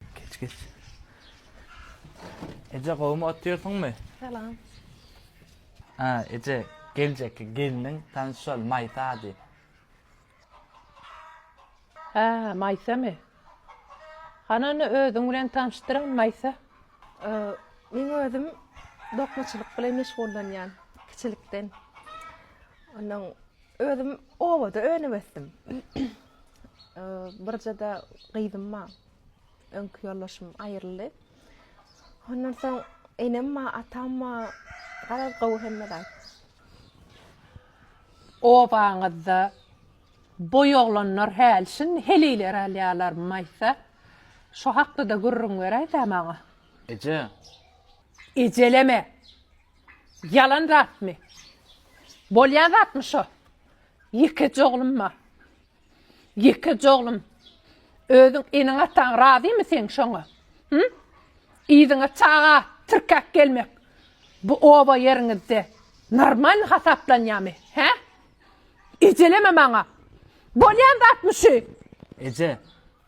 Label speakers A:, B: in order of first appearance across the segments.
A: Geç geç. Eje gowmy oturýarsyňmy? Salam. Ha, eje geljekki gelniň tanşal Maýsa ady.
B: Ha, Maýsamy? Han ony özüň bilen tanşdyryn Maýsa. Ee, men özüm dokmaçylyk bilen meşgullanýan kiçilikden. Ondan özüm obada önüp ösdüm. Ee, birje-de gyzym bar. öňki ýoldaşym aýryldy. Ondan soň enem ma, atam ma, garaz gowy hemme zat. Obaňyzda boý oglanlar häl, şindi heleýleri alýarlarmy aýtsa? Şo hakda-da gürrüň beräýsä maňa. Eje. Ejeleme. Ýalan zatmy? Bolýan zatmy şo? Ýekeje oglum ma. Ýekeje oglum, özüň eneň-ataň razymy seň şoňa? Hü? Yzyňa çaga tirkäp gelmek bu oba ýeriňizde normalny hasaplanýamy, hä? Ejeleme maňa! Bolýan zatmy şu? Eje,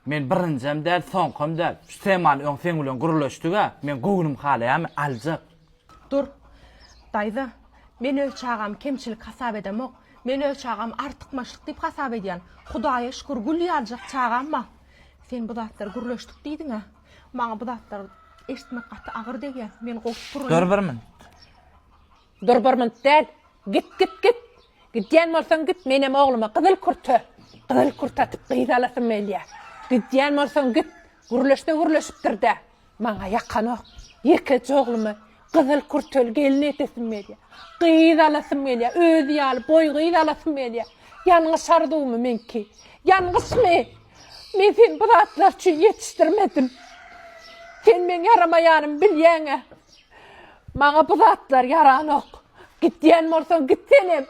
A: Men birinjem däl soňkam däl şu temany öň seň bilen gürleşdiga men göwnüm halaýamy aljak. Dur.
B: Daýza. Men öz çagamy kemçilik hasap edemok. Men öz çagamy artykmaçlyk diýip hasap edýän. Hudaýa şükür gül ýaljak çagam bar. Sen bu zatlary gürleşdik diýdiňä. Maňa bu zatlary eşitmek gaty agyr degýär. Men gowy sypyraýyn. Dur bir minut. Dur barmalyk däl. Git git git. Gidýän bolsaň git menem ogluma gyzyl kürte gyzyl kürte atyp gyz alasym gelýä. Gidýän bolsaň git. Gürleşse gürleşipdir-dä. Maňa ýakanok. Ýekeje oglumy gyzyl kürteli gelin edesim gelýä. Gyz alasym gelýä. Özi ýaly boý gyz alasym gelýä. Ýalňyş arzuwmy meňki? Ýalňyşmy? Men seni bu zatlar üçin ýetişdirmedim. Sen meň ýaramaýanymy bilýäň-ä. Maňa bu zatlar ýaranok. Git diýen bolsaň git senem.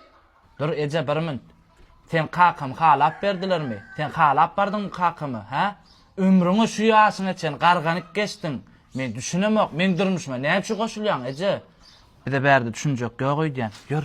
B: Dur eje
A: bir minut. Sen kakamy halap berdilermi? Sen halap bardyňmy kakamy, hä? Ömrüňe şu ýaşyňa çen garganyp geçdiň. Men düşünemok, meň durmuşyma näçe goşulýaň, eje? Bize bärde düşünjek ýok öýdýän. Ýör,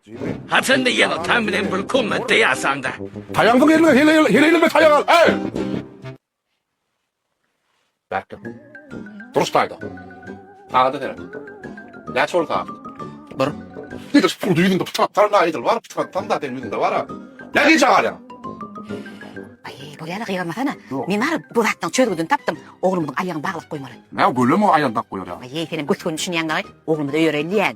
C: Ha sende ýene taň bilen bir komnatda ýasaňda. Taýagyňy eliňe heleýle,
D: heleýleme taýak al, äý! Bärkde. Duruş taýda. Sagada seret. Näçe boldy sagat? Bir. Nedir puldy ýüzüňde pytrak tarla edil bar, pytrak tarla seň ýüzüňde bar-a.
E: Nä gije galýaň? Aý, bolýa-la gygyrmasana. Men baryp bu zatlaryň çözgüdini tapdym. Oglumyzyň aýagyny baglyp goýmaly. Nä gölem o aýal bak
D: goýar ýaly. Aý, senem gös-göni düşünýäň
E: dagy. Oglumyzy öýereýin diýýän.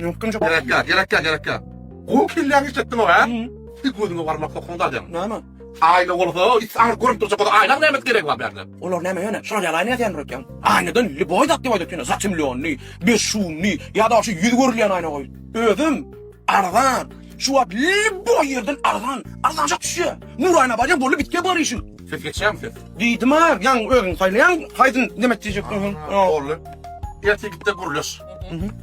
F: Ýokdum ýok. Ýöräp ýat, ýöräp ýat, ýöräp ýat.
D: Gowy kelläňi işletdiň ow-a. Bir gözüňe barmak sokuň dalýaň. Näme? Aýna
F: bolsa,
D: it aňry görüp durjak bolsa, aýnaň näme geregi bar bärde? Olar näme ýöne, şol ýaly
F: aýna ýasaýandyr öýtýäň. Aýnadan lýuboý zat diýip aýdaýsyň ýöne, zatemlýonnyý, bezşumnyý ýa-da şu ýüzi görülýän aýna goý. Özem arzan. Şu wagt lýuboý ýerden arzan, arzanjak düşýär. Nur aýna barýaň, boldy, bitýär bar işiň. Ses geçýärmi ses?
D: Diýdim-ä, ýaňy
F: özüň saýlaýaň, haýsyn nemet diýjekdiň sen? Ýa boldy.
D: Ertir gitde gürleş.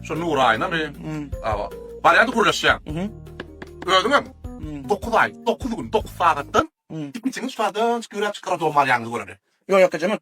D: Şu Nuraýna men. Awa. Barýardy gürleşýän. Özüňem 9 aý, 9 gün, 9 sagatdan ikimiziň şu sagatdan çykyp ýöräp çykaryp dogum barýanyňyzy göreli. Ýok ýok ejemek.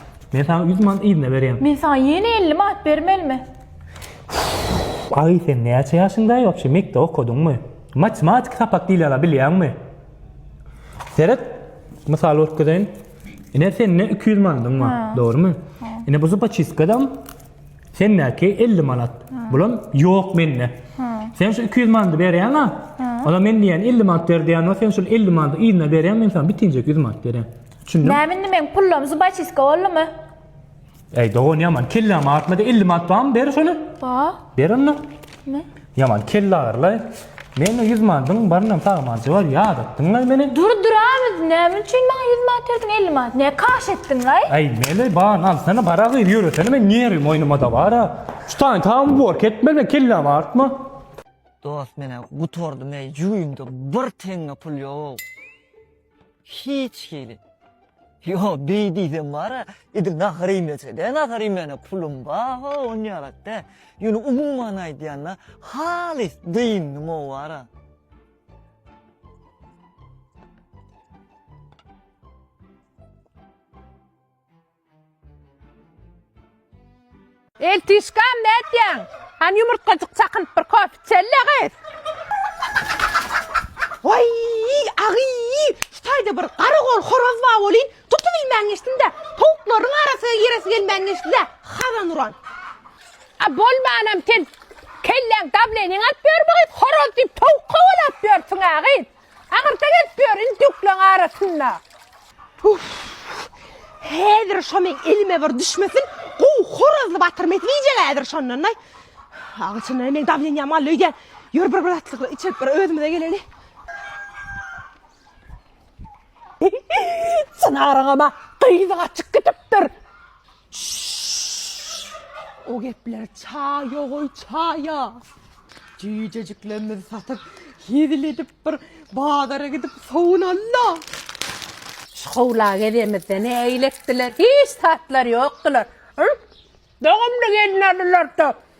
G: Men saňa ýüz manat yzyna berýän. Men saňa ýene elli
H: manat bermelimi?
G: Aý, sen näçe ýaşyňdaý wapşe? Mekdep okadyňmy? Matematik sapak diýleni bilýäňmi? Seret, mysal görkezeýin. Ine, sende iki ýüz manadyň bar, dogrumy? Ine, bu zupaçistkadam sendäki elli manat. Bulam ýok mende. Sen şu iki ýüz manady berýäň-ä? Olam men diýýän elli manat ber diýýän, sen şol elli manady yzyna berýäň, men saňa bitinjek ýüz manat berýän. Düşündim. Näme indi meň pullam
H: zubaçiska boldumy? Eý
G: dogan ýaman kellämi atmada 50 manat barmy ber şony. Ba. Ber onda.
H: Ne? Ýaman kelle
G: agyrylaý. Mende 100 manadyň barynam sagmanjy bar ýadatdyňlaý meni. Dur dur abi
H: näme üçin maňa 100 manat berdiň 50 manat ne kaş etdiň laý? Aý mele ban
G: alsana bara gyz ýöresene men ýeri moýnuma da bara. Şu taýyn taýyň bor ketmeli men kellämi artma. Dost
I: menä gutardym eý jüýümde bir teňňe pul ýok. Hiç hili. Ýo, beý diýsem bar-a, edil nahar iýmese-de, nahar iýmäne pulum ba-ha, on ýalak-dä. Ýöne umuman aýdýanda, halys dyndym o wara.
B: Eltişgam nätýäň? Hany ýumurtgajyk çakynyp bir kofe içeli-le gyz. Waý, agy, şu taýda bir garagol horaz bar welin, tutubilmän geçdim-dä. Towuklaryň arasyga giresi gelmän geçdi-dä, hazan uran. A bolmanam sen kelläň dableniň alyp ýörmi gyz, horaz diýip towuk kowalap ýörsüň-ä gyz. Agyrta gelip ýör indi dökleň arasynda. Uff. Häzir şo meň elime bir düşmesin, gowy horazly batyr mesip iýjek häzir şondan-da. Agy çyndan hem meň dawleniýam galdy öýdýän. Ýör bir bir atlykly içip bir özümize geleli. Çynaryň ama gyzy gaçyp gidipdir. O gepler çaýa goý çaýa. Jüýjejiklerimizi satyp, hezil edip bir bazara gidip sowunalla. Şu howla gezemizde ne eýletdiler? Hiç tatlary ýokdylar. Dogumly gelin aldylar-da.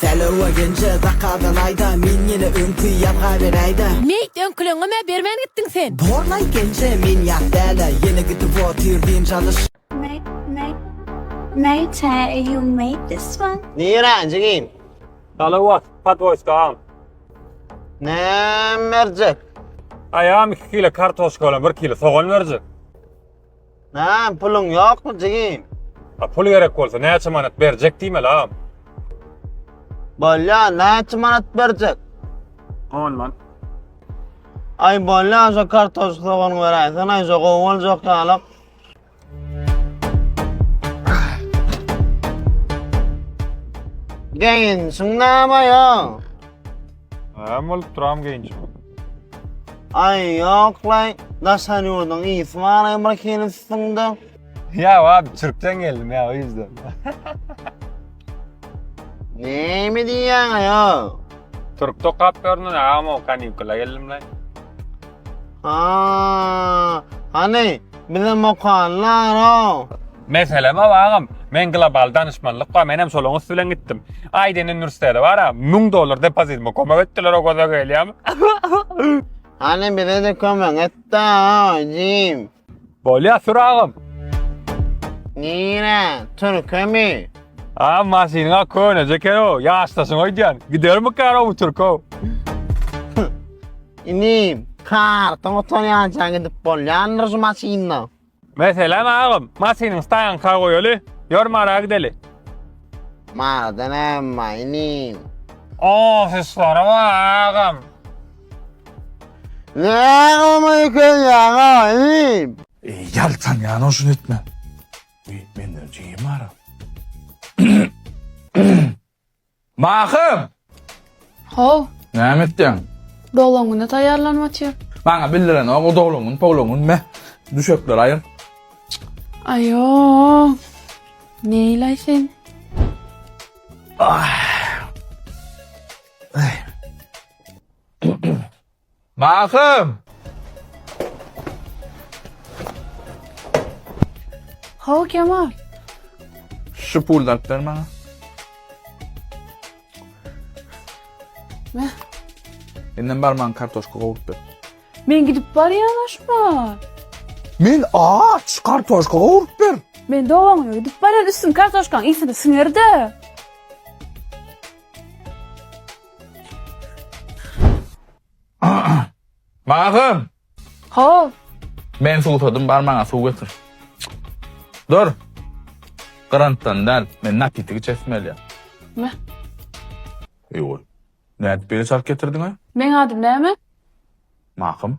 I: Sälewwa genje zakadan aýda Men ýene öňki ýazga beräýdä. Meýt öňküleňňemä
B: bermän gitdiň sen. Borlaý genje
I: men ýat dälä Ýene gidip otyr dynç alyş. Meýt Meýt
H: you made this one? Nirä jigim?
I: Salawat,
G: podwoýska agam.
I: Näme berjek? Aýam
G: iki kile kartoşka bilen bir kile sogan berjek. Hä,
I: puluň ýokmy, jigim? A pul gerek
G: bolsa, näçe manat berjek diýmeli, agam? Bolýa,
I: näçe manat berjek? On
G: man.
I: Aý, bolýa, şo kartoşka sogany beräýsene, şo gowy boljak ýalyk. Geýinişiň näme ýa?
G: Näme bolup duram geýinişim?
I: Aý ýoklaý, daşary ýurduň ysy baraý bir hili üstüňde. Ýok
G: abi türkden geldim ýa o ýüzden.
I: Näme diýýäň aýo? Türk tokap
G: görnün agam o kanikula geldim lan. Aa,
I: hany bizem okanylar o. Meselem hawa
G: agam, men global danyşmanlyk bar, menem şolaň üsti bilen gitdim. Aýdin uniwersitete bara, müň dollar depozitime kömek etdiler o göze gelýämi?
I: Hany bizede kömek etda jim. Bolýa sür
G: agam. Nirä,
I: türkemi? A maşynyňa
G: köneje ekenow, ýaşdaşyň öýdýän. Gidermikanow bu türkow.
I: Inim, kartyň gutarýança gidip bolýandyr şu maşynda. Meselem
G: agam, maşynyň staýanka goýaly, ýör Mara gideli.
I: Maradan hem bar inim. Ofislary
G: bar agam.
I: Näme öýkelýäň agam inim? Eý, ýaltanýan
D: oşun etme. Menden jigim bar. Mahym!
A: How. Näme etýäň?
D: Doglan güne
A: taýýarlanyp otyr. Maňa bildirenok
D: o doglan gün, poglan gün me. Düşekleri aýyr. Aýo.
A: Neýlaý sen? Ah.
D: Mahym!
A: Hawa, Kemal.
D: Şu puly alyp ber maňa.
A: Meh. Menden
D: barmaň kartoşka gowup ber. Men gidip
A: barýan aşma. Men
D: aç kartoşka gowup ber. Men dogaňa gidip
A: barýan üstün kartoşkaň ýesini siňerde.
D: Magym! Haw!
A: Men
D: suwsadym, bar maňa suw getir. Dur! Grantdan däl, men napitik içesim gelýär. Mä. Eý oý. Nädip beýle çalt getirdiň-ä? Meň adym näme?
A: Magym.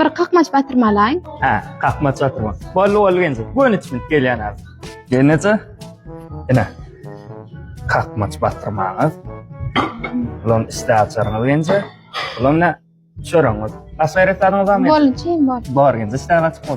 H: Bir kakmaç batyrma alaýyn. Hä, kakmaç
G: batyrma. Bolly bolly genji. Göni düşünip gelýän az. Gelneje. Ine. Kakmaç batyrmaňyz. Ulan isle açaryňyz genji. Ulan ne? Çörüňiz. Başga ýere sadyňyz barmy? Bolly, çyn bol. Bar
H: genji, isle açyp bol.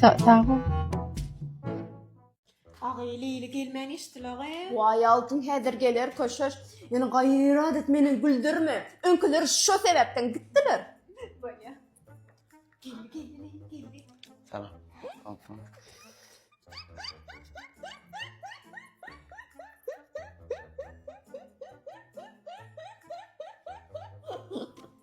G: Sag
J: Agay Leyli gelmän eşdil agay. Vay altın häzir geler köşeş. Ýöne gaýrat et meni güldürme. Öňküler şu sebäpden gitdiler. Bolýa. Geldi
K: geldi Leyli geldi. Salam. Altyn.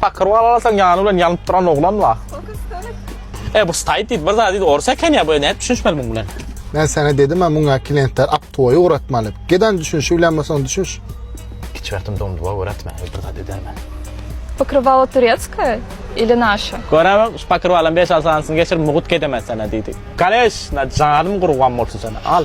A: Pakyr wal alasan ýany bilen ýanyp duran oglan bar. E bu stayt diýdi, bir zat diýdi, ors eken ýa, bu nädip düşünişmeli muň bilen? Men sana dedim
L: ha muňa klientler aptoýy ugratmaly. Gedan düşünişi bilen bolsaň düşünş. Kiçi wagtym
A: domduwa öwretme, bir zat edermen. Pokrywalo
H: turetskoýe ili naşa? Görem, şu pokrywalam
A: beş-alty sanysyny geçirip mugut gedemen sana diýdi. Kaleş, na janym gurban bolsun sana, al.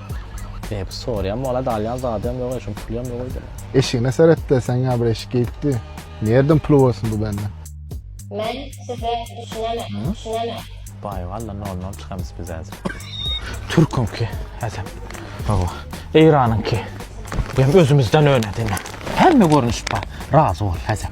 A: Hep sorýan bolat alýan zadym ýok eşim pulum ýok öýde. Eşigine seretde
L: sen ýa bir eşik gitdi. Nerden pul bolsun bu bende. Men
J: size düşünemek düşünemek. Baý walla
A: nol nol çykamys biz häzir. Türküňki häzem hawa Eýranyňky hem özümizden öne diňe. Hemme görnüş bar razy bol häzem.